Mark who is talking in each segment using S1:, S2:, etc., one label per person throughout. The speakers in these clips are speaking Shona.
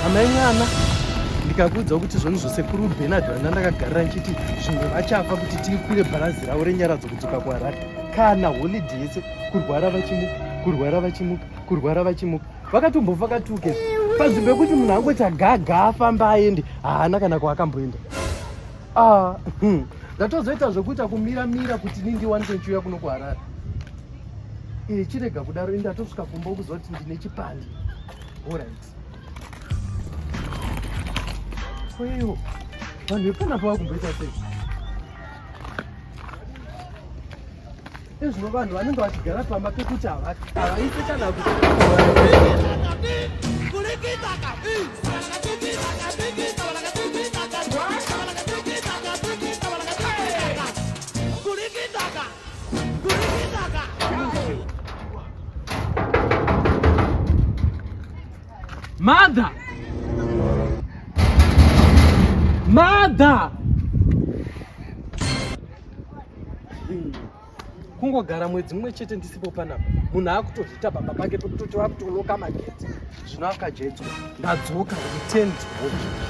S1: amai mwana ndikakuudza kuti zvoni zvosekuru benard vanga ndakagarira ndichiti zvimwe vachafa kuti tikwire bharazi ravo renyaradzo kudzoka kuharare kana holidi yese kurwara vachimuka kurwara vachimuka kurwara vachimuka vakatombofa katuke pazvi pekuti munhu angoti agaga afamba aende haana kana kwaakamboenda ah, hmm. ndatozoita zvokuita kumira mira kuti ni ndiwanise ndichiuya kuno kuharare eh, chirega kudaro indatosvika kumba kuzoti ndine chipande orit Koiwo vanhu vepana pava kumboita sei? Ezvino vanhu vanenge vachigara pamba pekuti havaite kana kuti Mother! Mother! kungogara mwedzi mumwe chete ndisipo panapa munhu akutozviita baba pake pekutoti vakutoloka magetsi zvino akajedzwa ndadzoka return to home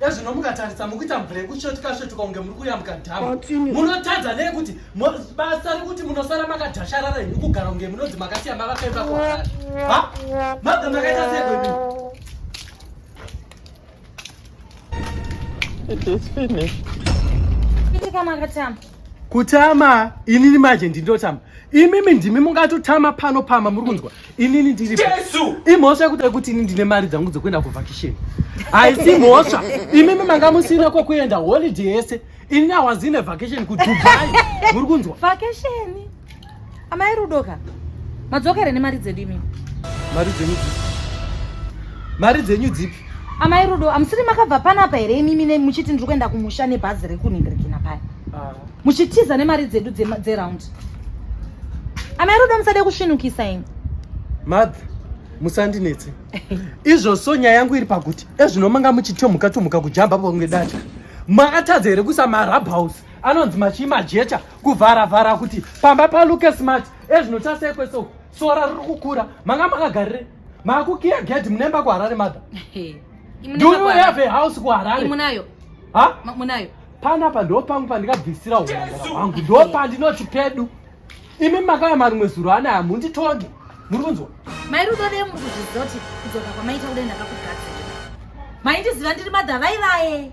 S1: ezvino mukatarisa mukuita mvurekutsvetukasvetuka kunge muri kuyambuka dhamu munotadza nei kuti basa rekuti munosara makadhasharara henyu kugara kunge munonzi makasiya mavakaimba kwaaa mabva makaita sei kwedu It is finished. kutama inini manje ndinotama imimi ndimi mungatotama pano pama muri kunzwa inini ndiri Jesu! imhosva yekuti kuti ini ndine mari dzangu dzekuenda kuvhakisheni haisi mhosva imimi manga musina kwekuenda holiday yese inini awazine vhakisheni kudubai muri kunzwa Vacation. Amai Rudo ka? Madzoka here nemari dzedu imi? Mari dzenyu dzipi? Mari dzenyu dzipi? Amai Rudo, amusiri makabva panapa here imi mine muchiti ndiri kuenda kumusha nebhazi rekunhingirikina paya? Ah. Muchitiza nemari dzedu dzeround. Dze Amai Rudo musade kusvinukisa imi. Madh, musandinetse. Izvo so nyaya yangu iri pakuti ezvino manga muchitomuka tomuka kujamba pamwe dacha. Makatadza here kuisa marabhouse? anonzi machii majecha kuvhara vhara kuti pamba paluke smart ezvino chasekwe so sora riri kukura manga makagarire makukiya gedi munemba kuharare mother do you have a house kuharare munayo ha munayo panapa ndo pangu pandikabvisira unangara hwangu ndo pandinoti pedu imi makaya marimwe zuro anaya munditonge muri kunzwa mai rudo vee muri kuzviziva kuti kudzoka kwamaita kudai ndakakugadzira maindiziva ndiri madha vai vaye